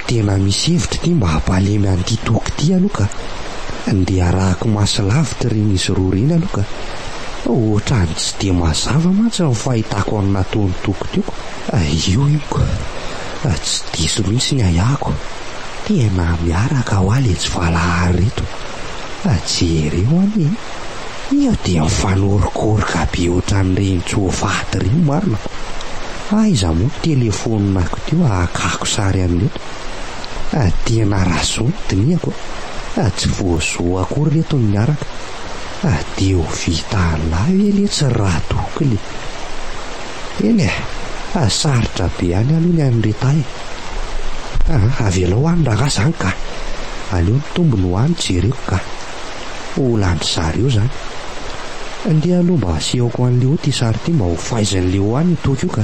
tena misy hevitra ity mba hampalemy an'ity toaka ity aloha ka. Ndeha arahako maso lavitra ireny izy roa ireny aloha ka. Ohatran'ny tsy dia mazava mantsy ny fahitako an'i Natolo toko teo. Io iko. Tsy diso mihitsy ny ahiako. Tena miaraka hoa letsy valahary reto. Jereo anie e! Iha dia mifanorokoroka be ohatran'ireny tsoafaty ireny marina fa aiza moa ny telefoniko teo hakako sary an'ireto. Tena razonin'ny dinihako a! Tsy voazoa akory ireto ny niaraka. fa dia ho vita anay ve letsy Radokiny e! Eny e! fa sarotra be any aloha ny an'i Rita e! Aa! avelao any rangaha izany ka! aleo ny tombony ho any jereko ka! ho olandry zareo izany! ndeha aloha mba asehoko an'i Léo ity sary ity mba ho faizin'i Léo any io toky io ka!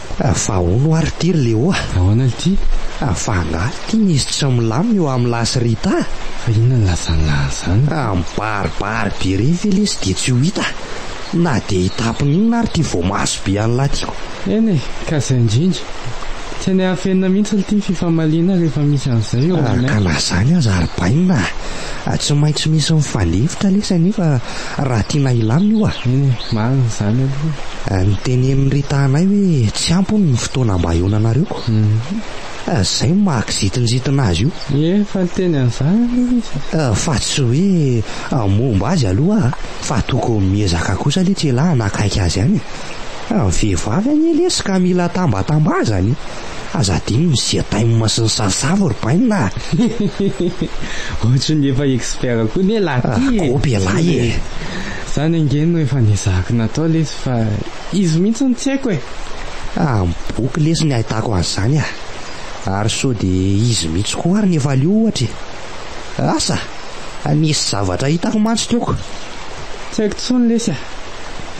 Fa hono hoa ry ty ry Léo a! Ahoana ry ty? Fa angaha ry ty misy tsy milamina eo amin'i lahy sy Rita a! Fa inona no lazan'i lahy an'izany? A! Mibaribary be re ve lesy dia tsy ho hita a! Na dia hitapona inona ary ty voamaso be an'i lahy tiako! Eny e! Ka izay indrindra! Tsy any hafenina mihitsy ry ty ny fifamaliana rehefa misy an'izay eo aminay! Ka na izany aza ry bainina a! Tsy maintsy misy mifandefitra lesy anie fa raha tiana hilamina io ah. Eny e, marina izany aloha. Notenenin'i Rita anay hoe tsy ampy hono ny fotoana mba hionanareo ko. Izay no maha kizintinjitina azy io. Efa niteny an'izany aloha izy. Fa tsy hoe momba azy aloha ah, fa tokony miezaka kosa lesy ialahy hanakaiky azy ihany e. Ny vehivavy anie lesy ka mila tambatambazana e. Aza adino ny siatay masin'ny sarsavo ry bainina ah! Ohatran'ny efa expert koa ne lahy ty e! Akopy ialahy e! Zany ange no efa nezahako natao lesy fa izy mihitsy no tsy haiko e! Amin'ny boky lesy no ahitako an'izany ah! Ary sao dia izy mihitsy koa ary no efa leo ohatra e! Asa! Nisy zavatra hitako mantsy teo ko! Tsy haiko intsony lesy ah!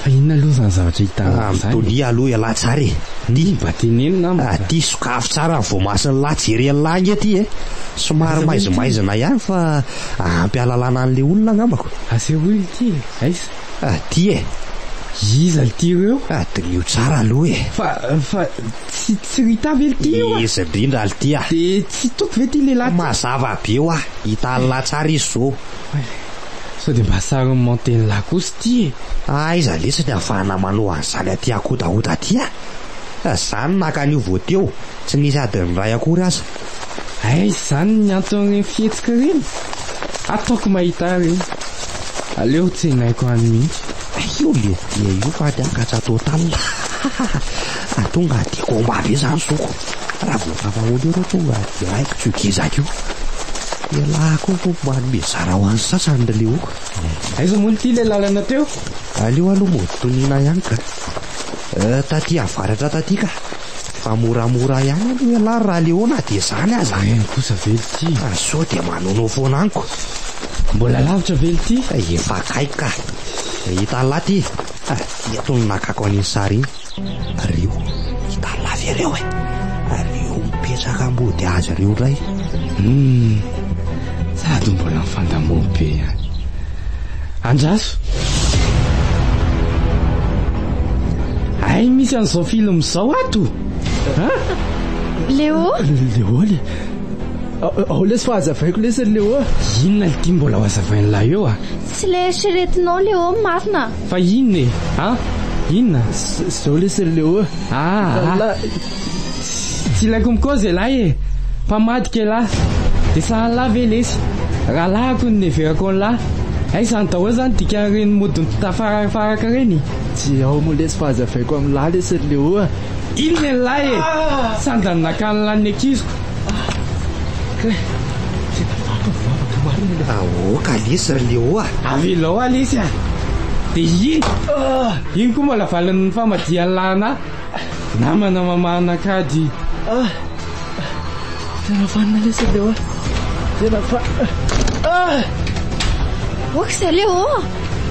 Fa inona aloha izany zavatra hitanao izany? Ah, mitonia aloha ialahy tsara e! Ty! Mba teneno namako! Ah, ty sokafy tsara ny voamasin'ilahy jery an'ilahy ange ty e! Somary maizimaizina ihany fa ampy hahalalana an'ilay olona angambako. Asehoy ity e! Aiza? Ah, ty e! Iza ity ireo? Ah, diniho tsara aloha e! Fa, fa tsy, tsy Rita ve ity io a? Iza indrindra ary ity a? Dia tsy toky ve ity lehilahy ity? Mazava be hoa, hita an'ilahy tsara izy izao. Sao dia mba sarin'i Mantenila kosa ity e! Aiza lesy ny ahafahana manao an'izany aty ankodahoda aty a! Fa za no naka an'io vao teo, tsy nisy adin'ny iray akory aza. Aiza izany ny anton'ireny fihetsika ireny? Ataoko mahita ahy ireny. Aleo ho tsenaiko any mihitsy. Io lehibe io fa ady an-katsa total. Tonga dia combat be izany zoky. Raha vao tamahoana eo ireo tonga direct tsy ho gezaka io. Ialahy koa hono manome zara ho an'ny sasany ry Leoka. Aiza moa ity ilay lalana teo? Aleo aloha mody toniana ihany ka. Taty avaratra taty ka. Fa moramora ihany aloha ialahy raha Leo na dia izany aza. Eny kosa ve ity? Fa sao dia manono foana amiko. Mbola lavitra ve ity? Efa akaiky ka. Hita laty. Eto no nakako an'iny sary iny. Ary eo i Tarlavy ireo e! Ary eo mipetraka ambody hazo ireo indray. Hum! Sady mbola mifandamoa be ihany. Andraso! Hay misy an'izao film izao ato! Ha? Léo? Léo le. Ao lesy fa hazavaiko lesy ry Léo. Inona ity mbola ho hazavain'ilay eo ah? Tsy ilay eritreretinao Léo marina. Fa inona e? Ah! Inona? Zao lesy ry Leo ah! Ah! Tsy ilaiko mikaoza ialahy e! Mpamadika ialahy! Dia sahan'lah ve lesy? Rahalahiko no niheverako an'lah! Aiza any daholo izany dikan'ireny mody mitafarafaraka ireny? Tsy ao moa lesy fa hazavaiko amin'lah lesy ry Leo ah! Inona ialahy e! Sandany nakan'lah ny ankiziko! Aoka lesy ry Léo a! Avelao aho lesy a! Dia iny, iny koa mbola valin'ny famadihan'i Lana namana mamahana kajy. Tena vanona lesy ry Léo a! Tena vanona. Ok za Léo a!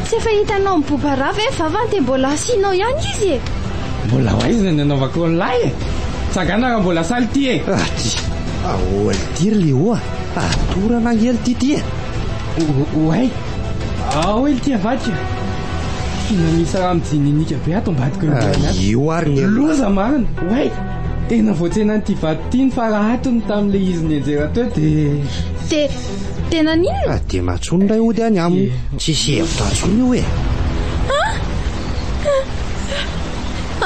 Tsy efa hitanao mibobarà ve vavany dia mbola asianao ihany izy e! Mbola ho aiza ny anaovako ny lahy e! Tsagana raha mbola saly ity e! Aty! Ahoa ity ry Léo a! Atorana ange ity ity e! Oay! Ao e ity avadika! Tena misy raha mijininika be ato ambadiko eo ambany ato. Io ary ny ela. Loza marina! Oay! Tena voatsenan'ity vato ity ny fara hatony tamin'ilay izy nianjera teo dia... Te, tena n'inona? Dia matsony indray ody any aminy. Tsisy hevitra intsony io e!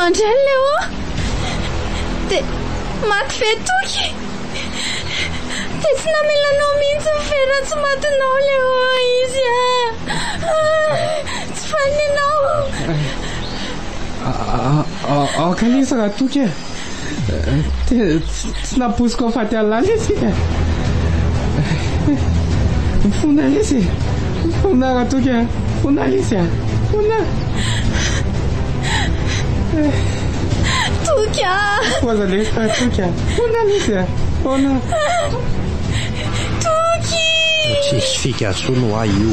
André Léo Dia maty ve toky Dia tsy namela anao mihitsy ny vera tsy matinao Léo izy a Tsy fanina aho Aoka lesy raha toky e tsy naposiko faty alala izy e mifona izy mifona raha toky a mifona izy a mifona toky a poza le toky a mifona izy a mifona Toky! Tsisy fika intsony ho ahy io.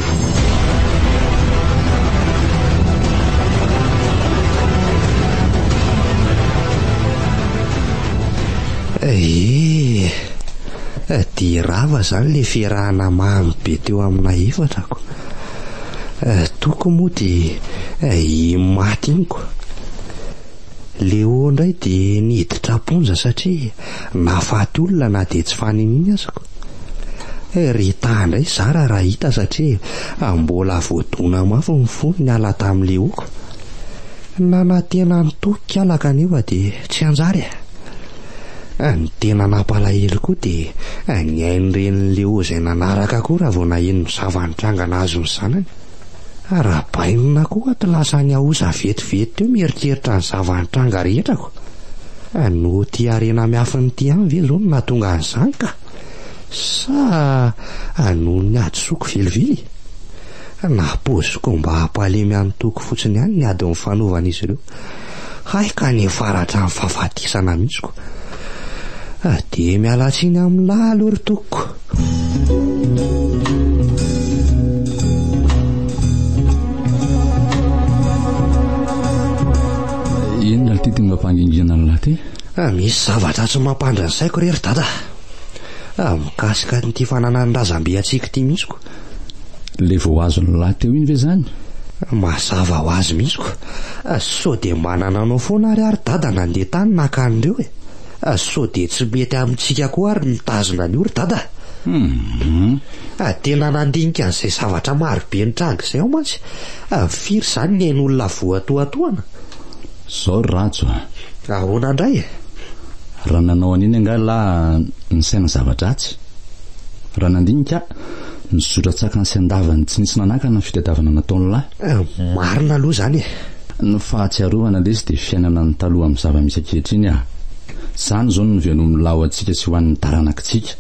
Ee, eh, dia rava izany ilay fiarahana mamy be teo amina efatrako. Eh, toko moa dia eh, i maty iny ko. Leo indray dia niditra am-ponja satria Nahafaty olona na dia tsy faniniany aza ko. Rita indray zara raha hita satria mbola voadona mafy ny fony niala tamin'i Leoko. Nanantena ny toa kala kanefa dia tsy hanjary e. Ny tena nampalahelo koa dia ny ain'irenin'i Leo izay nanaraka koa raha vao naheno ny zava-nitranga nahazo ny zanany. Arahabaina koa ato lasa any Aosa vetivety teo mieritreritra ny zava-nitranga rehetra ko. Fa noho ity harena miafin'ity any ve zao no nahatonga an'izany ka? Sa noho ny hadisoako velively? Na pause combat hampalemy an'i Toky fotsiny ihany ny ady nifanovan'izy ireo. Hay ka ny faratra ny fahafatesana misiko Dia miala tsiny amin'lah aloha ry tokoko mampangingina an'lah ty? Ah, misy zavatra tsy mampandry ny saiko re ry dada. Ah, mikasika an'ity fananan'ny razambe antsika ity mihitsy ko. Ilay vao azon'ny lahy teo iny ve izany? Mazava ho azy mihitsy ko. Sao dia manana anao foana ary ary dada nandeha tany naka an'ireo e. Sao dia tsy mety amintsika koa ary ny mitazona an'io ry dada. Hum. Tena nandinika an'izay zavatra marobe nitranga izay aho mantsy. Firy izany ny ain'olona voatohatohana? Izao ry Rhajo a. Ahoana indray e? Raha nanao an'iny angaha lahy nisaina zava-dratsy? Raha nandinika aho. Nizotra tsakany sy andavany tsy nisy nanakana ny fitadiavana nataon'ny lahy. Marina aloha izany e! Ny fahatsiarovana lesy dia fiainana ny taloha amin'ny zava-misy ankehitriny a! Izany izao no novenomin'ny lahy ho antsika sy ho an'ny taranakitsika.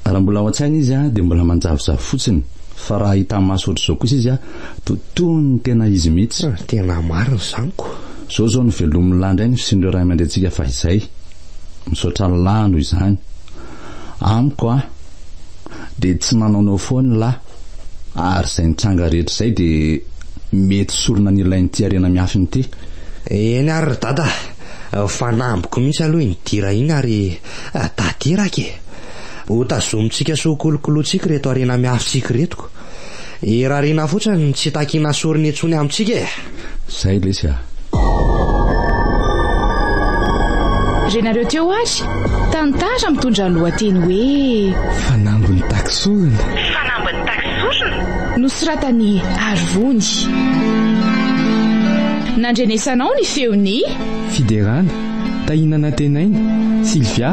Raha mbola ao an-tsaina izy a, dia mbola manjavozavo fotsiny, fa raha hita maso ohatr'izao kosa izy a, to toy ny tena izy mihitsy. Tena marina izany ko! Izao izao no velomin'ny lahy indray ny fisian'ireo ray aman-drentsika fahizay. Misaotra Allah noho izany. Amiko a, dia tsy manaonao foana ny lahy, ary izay nitranga rehetra izay dia mety sorona ny ilain'ity harena miafina ity. Eny ary ry dada, fanambiko mihitsy aloha iny dira iny ary tadiraka e! Hotazomintsika sy hokolokolointsika ireto harena miafintsika ireto. Irariana fotsiny ny tsy takiana sorona intsony amintsika e! Zay lesy a! Renareo teo ary, tantara mitondra lohateny hoe. Fanambin'ny takisorona. Fanambin'ny takisorona? Nosoratan'i Arivony. Nandrenesanao ny feon'i. Fiderana, Tahina Nantenaina, Sylvia,